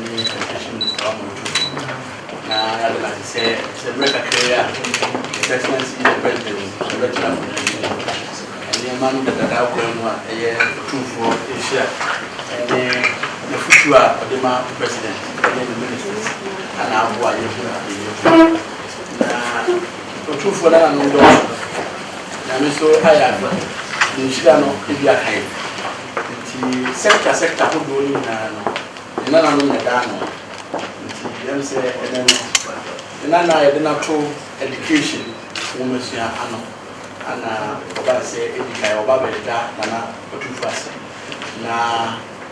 ne nhwehwɛ mu saa ɔmo nso so na yɛade no ase sɛ sɛ berɛ kakra yi a the presidency the president yɛbɛtena akonnwa no mu no nneɛma no dadadaa kwan mu a ɛyɛ ɔtumfoɔ nhyira ɛne n'afutuo a ɔde ma president ɛne ne ministers ana aboa yɛhu ade yɛhu na ɔtumfoɔ no ananom dɔɔso na me nso ayɛ aba ne nhyira no ebi aka yi Ntsi sector sector ahodoɔ no nyinaa no ne nananom na ɛda ano. Ntsi yɛm sɛ ɛnɛ no ne nana a yɛde no ato education nwomasua ano ana ɔba ne sɛ edi kan ɔba bɛda nana ɔtumfo ase na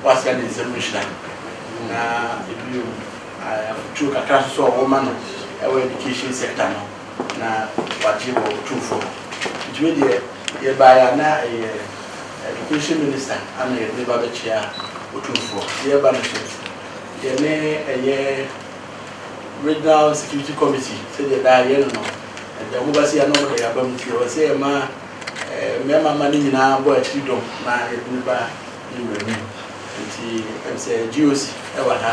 wasra ne nsam nhyira na bio afotuo kakra nso sɛ ɔwɔ ma no ɛwɔ education sector no na wagye wɔ ɔtumfo hɔ. Ntsi wei deɛ. Yɛbaeɛ a na ɛyɛ Education Minister a na yɛde ba bɛkyea Otumfoɔ. Yɛreba no nso, yɛne ɛyɛ Regional Security Committee sɛdeɛ daa yɛyɛ no no, ɛda mu ba sei a na wɔde yɛn abam nti ɛwɔ sɛ yɛma mmarima mma no nyinaa bɔ akyiri dɔm na yɛde no ba yɛn wura anim. Nti ɛm sɛ GOC wɔ ha.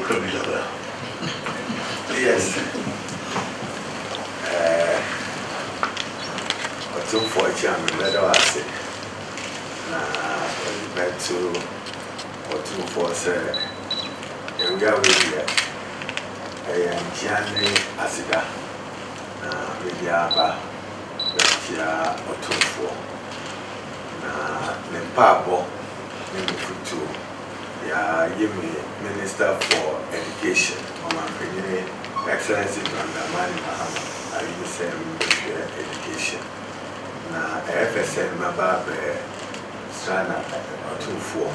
Ɔdɔ bi dada. Yes. Ɛɛ, Ɔtumfoɔ Kyeame, mɛda wo ase, na mede bɛto Ɔtumfoɔ sɛ awia wei deɛ, ɛyɛ nkyea ne aseda, na mede aba bɛkyea Ɔtumfoɔ, na me mpaabɔ ne m'afotuo Yɛayi me Minister for Education, Ɔmanpanyini Excellency John Dramani Mahama ayi me sɛ mebɛhwɛ Education. Na ɛyɛ pɛ sɛ mɛba abɛ sra no atumfoɔ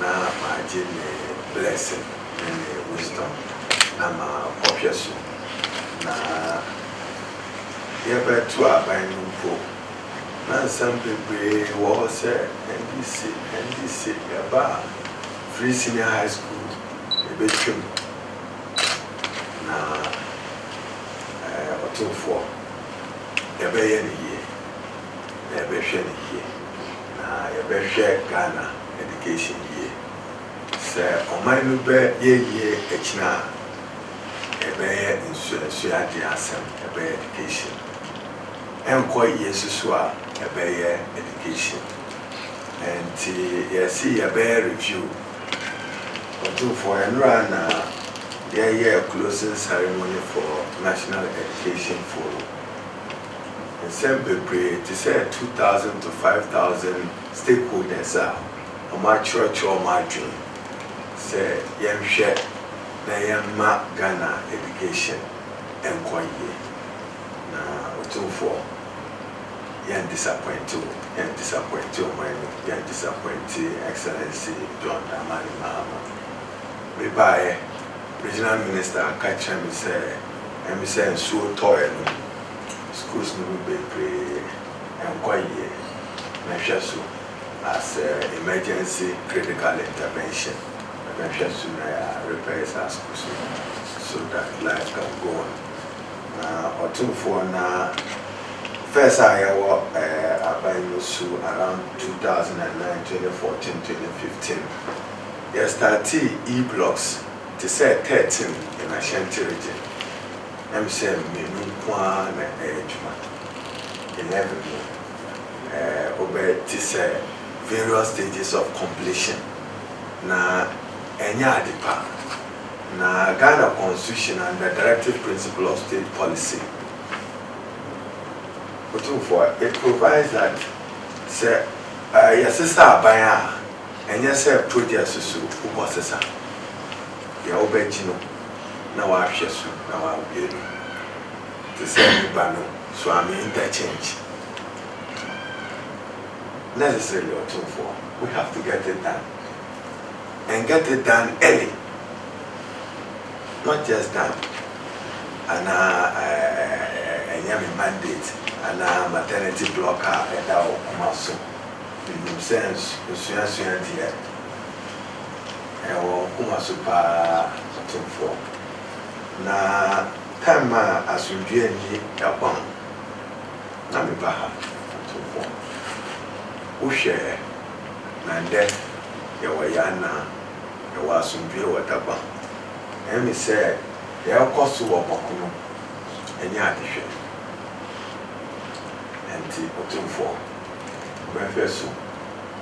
na magye ne blessing ne ne wisdom na ma kɔ hwɛ so. Na yɛbɛto aban no mpo. na nsɛm bebree wɔ hɔ sɛ ɛnde se, ɛnde se yɛba Free Senior High School yɛbɛtwa mu na ɛɛ ɔtomfoɔ yɛbɛyɛ no yie na yɛbɛhwɛ no yie na yɛbɛhwɛ Ghana education yie. Sɛ ɔman no bɛyɛ yie akyina a, ɛbɛyɛ nsuansuadeɛ asɛm, ɛbɛyɛ education ɛnkɔ yɛsi so a ɛbɛyɛ education nti yɛsi yɛbɛyɛ review ɔtumfoɔ ɛnora na yɛyɛɛ closing ceremony for national education forum nsɛm bebree te sɛ two thousand to five thousand stakeholders a ɔmo akyerɛkyerɛ ɔmo adwene sɛ yɛnhwɛ na yɛmma Ghana education ɛnkɔ yie. Na Otumfoɔ, yɛn disappointe wo, yɛn disappointe ɔman no, yɛn disappointe Excellency John Dramani Mahama. Me baeɛ, Regional Minister ka kyerɛ me sɛ ɛm sɛ nsuo tɔɔɛ no mu, schools no mu bebree ɛnkɔ yie, mɛhwɛ so as a emergency critical intervention, mɛbɛhwɛ so na yɛa repair saa schools no so that life can go on. Na ɔtumfoɔ na first a yɛwɔ aban no su around two thousand and nine, twenty fourteen, twenty fifteen yɛ startee E blocks te sɛ thirteen in Ashanti region na me sɛ mmienu nko ara na ɛyɛ adwuma eleven no wobɛ te sɛ various stages of completion na ɛnyɛ ade pa. Na Ghana Constitution and the Directive Principle of State Policy, Otumfoɔ, it provides that sɛ yɛsesa aban a, ɛnyɛ sɛ projects so wobɔ sesa. Deɛ wobɛgye no na woahwɛ so na woawie no. Te sɛ nnipa no, so I'm interchange? Necessarily, Otumfoɔ, we have to get it done. Ɛnkɛte Dan Eli, not just Dan, anaa ɛnyɛ me mandate anaa maternity block a ɛda wo koma so. Menim sɛ nsuasua deɛ ɛwɔ wo koma so paa, ɔtomfoɔ. Na time a asomdwoeɛ nni ɛkwan na meba ha, ɔtomfoɔ. Wohwɛɛ. Na ndɛ yɛwɔ yɛn ana, yɛwɔ asomdwee wɔ daba. Ɔyɛ me sɛ yɛrekɔ so wɔ ɔkono nye adehwɛ. Ntsi Otumfoɔ, bɛhwɛ so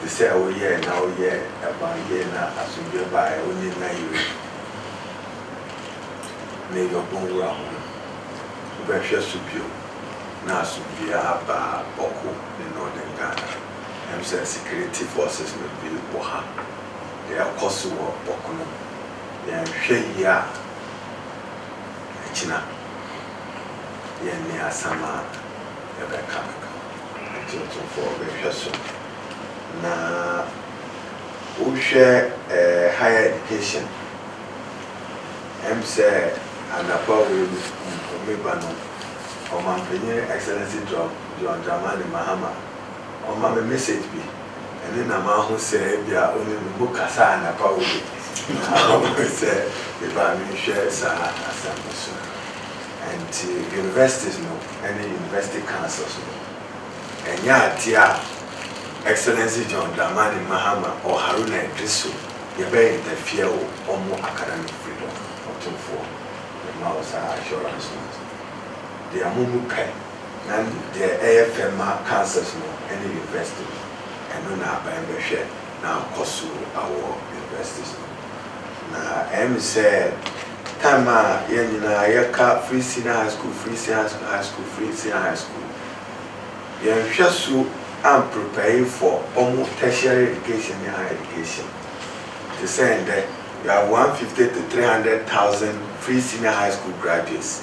tse sɛ woyɛe na woyɛɛ ban yie na asomdwee bae wo nye Nayiri ne Yɔbon wura ho no, bɛhwɛ so bio na asomdwee aba Bɔko ne Northern Ghana. Ɛwom sɛ security forces no bi wɔ ha de, ɛkɔ so wɔ ɔko no mu. Yɛanhwɛ yie a, ɛkyena yɛnne asɛm a yɛbɛka aka. Atuntumfoɔ bɛhwɛ so na wohwɛ higher education. Ɛwom sɛ anɔpa wei mpo me ba no, Ɔmanpanyin Excellency John Dramani Mahama, ɔma me message bi, ɛno na mahu sɛ ebia ɔne me mu kasaa anapa hɔ bi, na ɔma me sɛ mebra menhwɛ saa asɛm no so. Ɛnti universities no ne university councils no, ɛnyɛ adeɛ a Excellency John Dramani Mahama or Haruna Iddrisu yɛbɛ interfere wo ɔmo academic freedom, ɔtomfoɔ, mema wo saa assurance no. Deɛ mo mu pɛ. Na deɛ ɛyɛ fɛ ma cancers no ne universities, ɛno na aban bɛhwɛ na akɔ so awɔ universities no. Na ɛyɛ me sɛ time a yɛn nyinaa yɛka free senior high school, free senior high school, free senior high school, yɛnhwɛ so an prepare for wɔn tertiary education ne higher education. Te sɛ ɛndɛ, you have 150 to 300 thousand free senior high school graduates.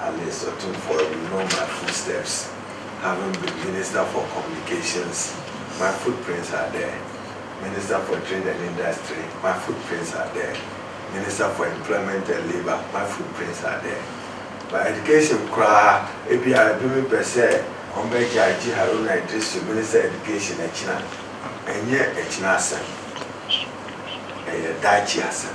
Alice Otumfuo You know my footsteps Having been Minister for Communications My footprints are there Minister for Trade and Industry My footprints are there Minister for Employment and Labour My footprints are there But Education koraa ebia ebinom pɛ sɛ wɔbɛgyae gye Haruna Iddrisu Minister Education akyi a, ɛnyɛ akyina asɛm, ɛyɛ daakye asɛm.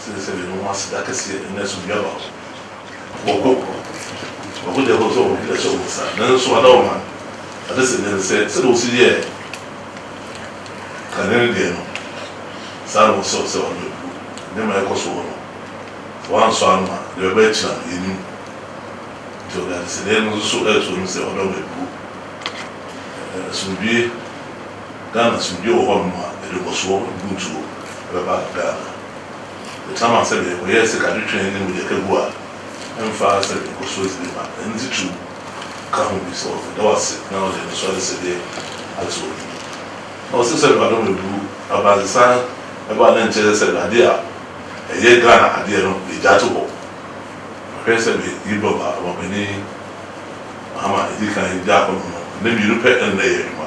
Sɛ sɛ yɛn ho aseda kɛseɛ ɛnyɛ so bia baako bɔkɔ bɔkɔ deɛ ɛbɔ sɛ wɔn ho ɛhyɛ wɔn nsa nanso ada wɔn ano ada sɛ deɛ no sɛ sɛdeɛ wɔsi yɛ kane no deɛ no saa na wɔsɛ wɔsɛ wɔn bɛbu nneɛma ɛkɔ so wɔ no sɛ wɔn ansɔ ano a deɛ ɛbɛ akyina no yɛn nim nti wɔde adesɛdeɛ no nso so ɛɛto anim sɛ wɔn bɛbu asomdwie. Ghana asomdwoe wɔ hɔnom a aduɔsoɔ mpuntuo bɛba Ghana. Yɛtena ma sɛdeɛ ɛkɔyɛɛ sikadwetwɛn ne mogyakaguo a ɛmfaa sɛdeɛ nkɔsoɔ dzi bi ma ɛno nti tum ka ho bi sɛ ɔdze da wo ase na ɔde no so ayɛ sɛdeɛ adze wɔ n'enyi. Na ɔse sɛdeɛ ɔde wɔn abu abrantesan ɛbɔ a na nkyɛrɛ sɛdeɛ adeɛ a ɛyɛ Ghana adeɛ no yɛgya to hɔ. Ɔhwɛ sɛdeɛ yɛn bɔba ɔbapanin Mahama ɛdi kan gyaa hɔnom no, nna mmienu pɛ ɛna na ɛyɛ adwuma.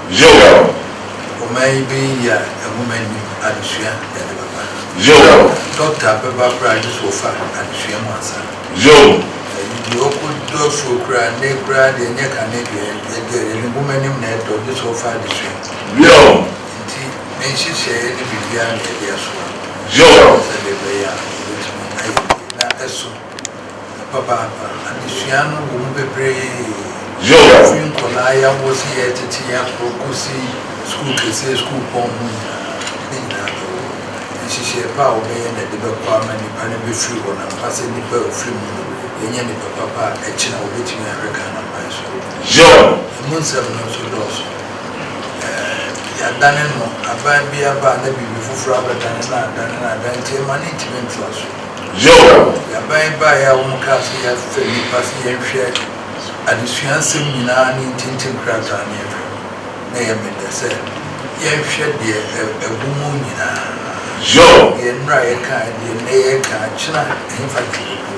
Yoel. Ɔman yi bɛyɛ yie a nwoma nni mu, adesua na ɛde bɛba. Yoel. Dɔkta bɛba koraa gye sɛ ɔfa adesua mu ansa. Yoel. Ɛyi deɛ ɔkɔ dɔ suro koraa, nnɛ koraa deɛ nyɛ kane deɛ ɛdɔ deɛ, ne nwoma anim na ɛdɔ gye sɛ ɔfa adesua mu. Yoel. Nti me nhyehyɛeɛ ne biribiara na yɛde asoa. Yoel. Sɛdeɛ ɛbɛyɛ a yɛbɛtumi ayɛ yie na ɛso. Papaapa, adesua no wɔ mu bebree, fi nkwadaa yawɔ si yɛɛ tete yaforo kosi sukuu kɛseɛ, sukuupɔn mu nyinaa, ne nyinaa bɛwɔ hɔ. Nhyehyɛɛ pa a wɔbɛyɛ na ɛde bɛkɔ ama nnipa no bɛfiri hɔ no, ampa sɛ nnipa a wɔfiri mu no, yɛanya nnipa papa a ɛkyena wɔbɛtumi ahwɛ Ghana kwan so. Ɛmu nsɛm no nso dɔɔso. Ɛɛ, yɛadane no, aban bi aba a na biribi foforɔ abɛdane no, adane no, adane nti ɛma no ntumi ntra so. Yoel. Aban baeɛ a wɔkaa sɛ yɛafrɛ nnipa sɛ yɛnhwɛ adesua nsɛm nyinaa ne ntintim krataa no yɛhwɛ no, na ɛyɛ me dɛ sɛ yɛnhwɛ deɛ ɛwɔ mu nyinaa. Yoel. Deɛ nnora yɛkaeɛ, deɛ nnɛ yɛreka, akyena, ɛhefa na yɛbɛduru?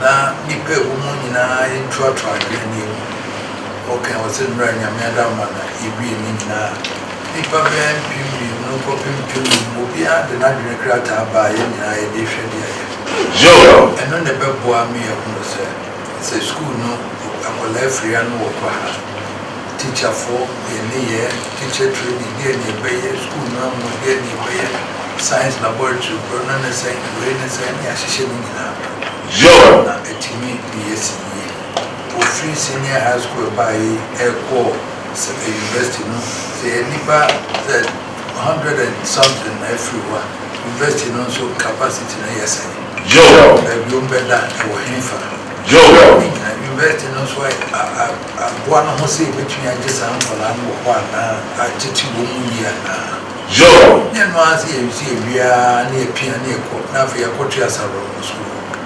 Na nnipa a ɛwɔ mu nyinaa yɛntoatoa adwene no yɛnhu. Wɔkae wɔ sɛ nnora Nyame adamma na yɛdue ne nyinaa. Nnipa bɛyɛ mpem mmienu kɔpem mpem num, obiara de n'adwene krataa ba a yɛn nyinaa yɛde rehwɛ deɛ ɛyɛ fɛ. Ɛno na ɛbɛboa me ahunu sɛ, sɛ sukuu no nkwadaa afiri ha na wɔkɔ ha a, tikyafoɔ, yɛn nneyɛɛ, teacher training, deɛn na yɛbɛyɛ, sukuu no amu, deɛn na yɛbɛyɛ, science laboratory korɔ no ne sɛn, wei ne sɛn, ne yɛahyehyɛ ne nyinaa, na atumi de yɛasi yie. Ofiri senior high school ɛbaa yi ɛkɔɔ university no sɛ yɛ nnipa sɛ hundred and something na ɛfiri hɔ a university no nso capacity no yɛ sɛn? Joe. Abiom bɛda ɛwɔ henfa? Joe. Ne nyina university no nso aboa no ho sɛ yɛbɛtumi agye saa nkwadaa no wɔ hɔ anaa atete wɔn mu yie anaa? Joe. Nyɛ ɛno ara sɛ yɛnso yɛwie ara na yɛpia na yɛkɔ na afei yɛakɔto yɛ asaborɔmmɔ sukuu hɔ.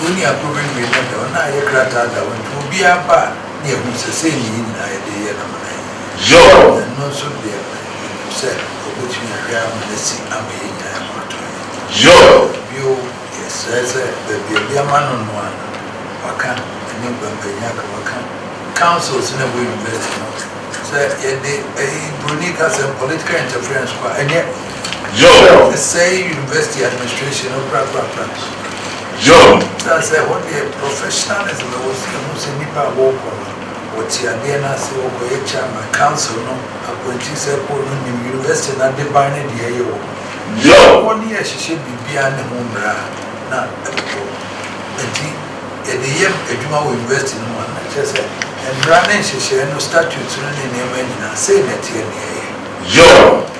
Wo nua kor bewie na dza ɔno ayɛ krataa da hɔ ntsi obiara ba a na yehu sɛ sei na hɛn nyina yɛdze reyɛ na hɔn ayɛ yie. Joel. Na no so deɛ menim sɛ ɔbɛtumi ahwɛ ama no asi ama yɛn nyinaa ma watɔ yɛn akyi. Joel. Bio, yɛsrɛ sɛ baabi a obi ama no noa no, waka, ɛne Nkwampanyin aka, waka, councils na ɛwɔ university no, sɛ yɛde ɛyi, broni kasɛm, political interference kɔ a, ɛnyɛ. John. Ɛsɛe university administration no prapra. John. Esiane sɛ ɛhɔ deɛ professionalism wɔ so, yɛhu sɛ nnipa a wɔkɔ no, wɔte adeɛ no ase, wɔkɔyɛ chairman, council no appointee sɛ ɛkɔ no nim university no adeban ne deɛ ɛyɛ wɔ hɔ. John. Sɛ wɔne yɛ hyehyɛ biribiara ne ho mmara a, na ɛbobɔ. Enti yɛde yɛ adwuma wɔ university no mu a, na kyerɛ sɛ mmara ne nhyehyɛe no, statutes no ne nneɛma nyinaa, sei na ɛteɛ na yɛyɛ. John.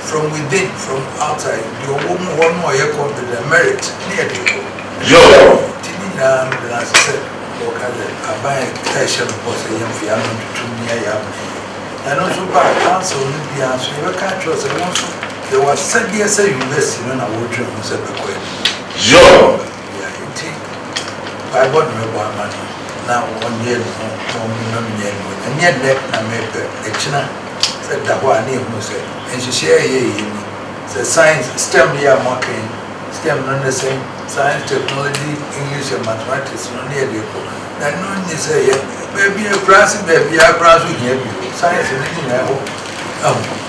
From within, from outside, deɛ ɔwɔ mu hɔ no a ɔyɛ confident, merit, ne ɛde kɔ. Yoo! Nti ne nyinaa no bena ase sɛ wɔka sɛ aban a ɛhyɛ no bɔ sɛ yɛmfa yɛn ano ntoto mu nyɛ yɛn amane yie. Ɛno nso ba a, council no biara nso yɛbɛka akyerɛ wo sɛ wo nso yɛwɔ asɛdeɛ sɛ university no na woredwene ho sɛ ɛbɛkɔ anim. Yoo! Nea enti Bible no rebɔ amanne na wɔnyɛɛ ne ho komm no nyɛ no, ɛnyɛ nnɛ na merepɛ, ɛkyena sɛ da hɔ a na yɛhunu sɛ nhyehyɛe a ɛyɛ yiye ni, sɛ science, stem yi a moaka yi, stem no ne sɛn? Science, Technology, English and Mathematics no ne yɛde rekɔ, na ɛno nye sɛ yɛ baabi, akurase baabiara koraa nso hia bi o, science no ne nyinaa hɔ.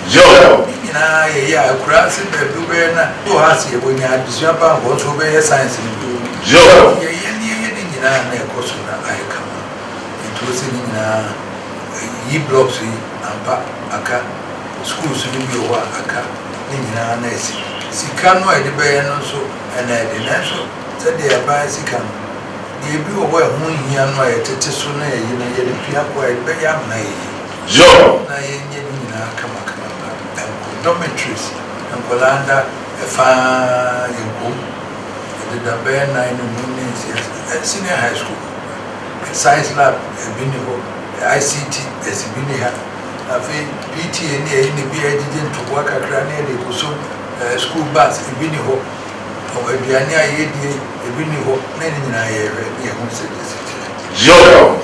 Joel. Ne nyinaa yɛ yɛ a akuraase baabi wobɛyɛ na wɔ ha se yɛwɔ nya adesua pa nkɔ nso wobɛyɛ science no bio. Joel. Nti yɛyɛ ne yɛyɛ ne nyinaa na ɛkɔ so na ayɛ kama nti wo se ne nyinaa yi blocks yi ampa aka schools no bi wɔ hɔ a aka ne nyinaa na asi sika no a yɛde bɛyɛ no nso ɛna ɛde nanso sɛdeɛ ɛbaɛ sika no deɛ ebi wɔ hɔ a ɛho nhia no a yɛtete so na yɛyi no yɛde pia kɔ a yɛde bɛyɛ amena yɛyi. Yɔɔ na yɛnyɛ no nyinaa kamakama ba ɛnkɔ dormitories nkwadaa nda ɛfa yɛnkɔ mu ɛdeda bɛyɛ nan ne num ne nsia ɛ senior high school mu ɛ science lab ɛbi nni hɔ ɛ ICT ɛsi bi nni ha afei PTA ne ɛyi ne bi a yɛgyegye ntoboa kakra ne yɛde kɔ som ɛ school bus ɛbi nni hɔ ɔ aduane a yɛdie ɛbi nni hɔ na ɛno nyinaa yɛhwɛ ne yɛhunu sɛdeɛ ɛsi teɛ. Yɔɔ.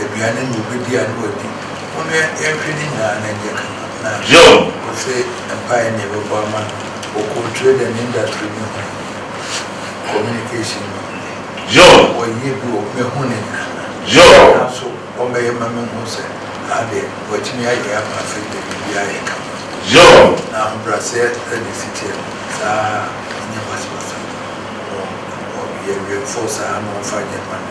aduane ne wobɛdi a ne wadi Wo no yɛnhwɛ ne nyinaa na ɛnyɛ kama Na ɔse mpaeɛ ne yɛbɛbɔ ama no Wɔ kɔntire dɛ ne industry ne hwan ni Communication ne hwan ni Wɔyɛ bi wɔ hɔ mehu ne nyinaa Nanso ɔmmɛyɛ ma menhu sɛ haa deɛ watumi ayɛ ama afei deɛ biribiara ayɛ kama Na ahobrɛaseɛ na ɛsi teɛ no saa ara ɛnyɛ basabasa Ɔyɛ awɛmfoɔ saa na ɔmfa nyɛ mma no.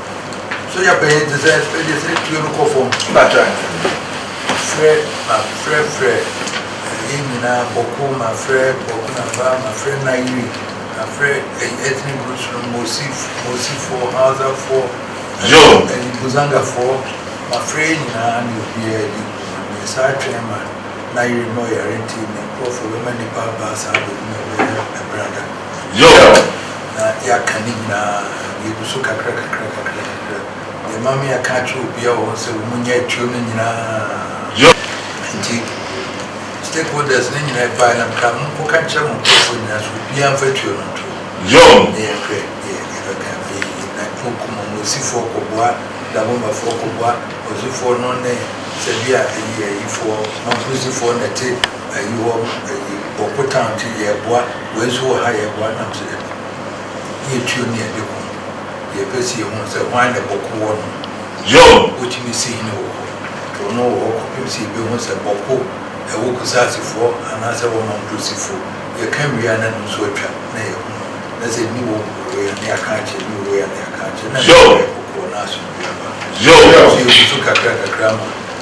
Soja panyin te sɛ Freddy sɛ tuo no kɔ fam. Mpakyɛ frɛ ma frɛ frɛ yɛn nyinaa Bɔko ma frɛ Bɔko na ba ma frɛ Nayiri ma frɛ ethnic groups no Mosif Mosifoɔ Hausafoɔ ɛne Buzangafoɔ ma frɛ yɛn nyinaa ne obiara di nkɔmmɔ na yɛsan atwɛn ma Nayiri ma ɔyare nti ne nkurɔfoɔ bɛma nnipa aba saa bɛhunu ɛberɛ no ɛberɛ ada. Yoh. Na yɛaka ne nyinaa, yɛgu so kakra kakra kakra kakra. Deɛ ɛma me aka akyerɛ obiara wɔ hɔ sɛ wɔn nyɛ atuo no nyinaa. Yoh. Nti stakeholders no nyinaa ɛbaeɛ na mekaa mo nkɔ ka nkyerɛ mo nkorɔfoɔ nyinaa sɛ obiara mfa atuo no nto. Yoh. Na yɛnhwɛ deɛ yɛbɛka afei. Na wɔkum wɔn, Osifoɔ kɔboa, Dabombafoɔ kɔboa, Ɔzufoɔ no ne Sɛbi a ayi ayifoɔ, Manfusifoɔ na ɛte. Ayi hɔ ayi wɔ po town nti yɛɛboa wei nso wɔ ha yɛɛboa nam sɛ dabi yɛ tuo ne yɛde ko yɛ pɛ sɛ yɛhunu sɛ hwan na bɔko wɔ no John wotumi si hene wɔ hɔ to no wɔ hɔ kɔpem sɛ yɛbɛhunu sɛ bɔko ɛwɔ kusase foɔ anaa sɛ ɛwɔ mamprosi foɔ yɛka wie a na no nso atwa na yɛhunu na sɛ nni wɔ mu wei a na yɛaka akyerɛ nni wɔ wei a na yɛaka akyerɛ na ɛma yɛkɔ koɔ na asomdwoeɛ aba so yɛgu so kakra kakra ma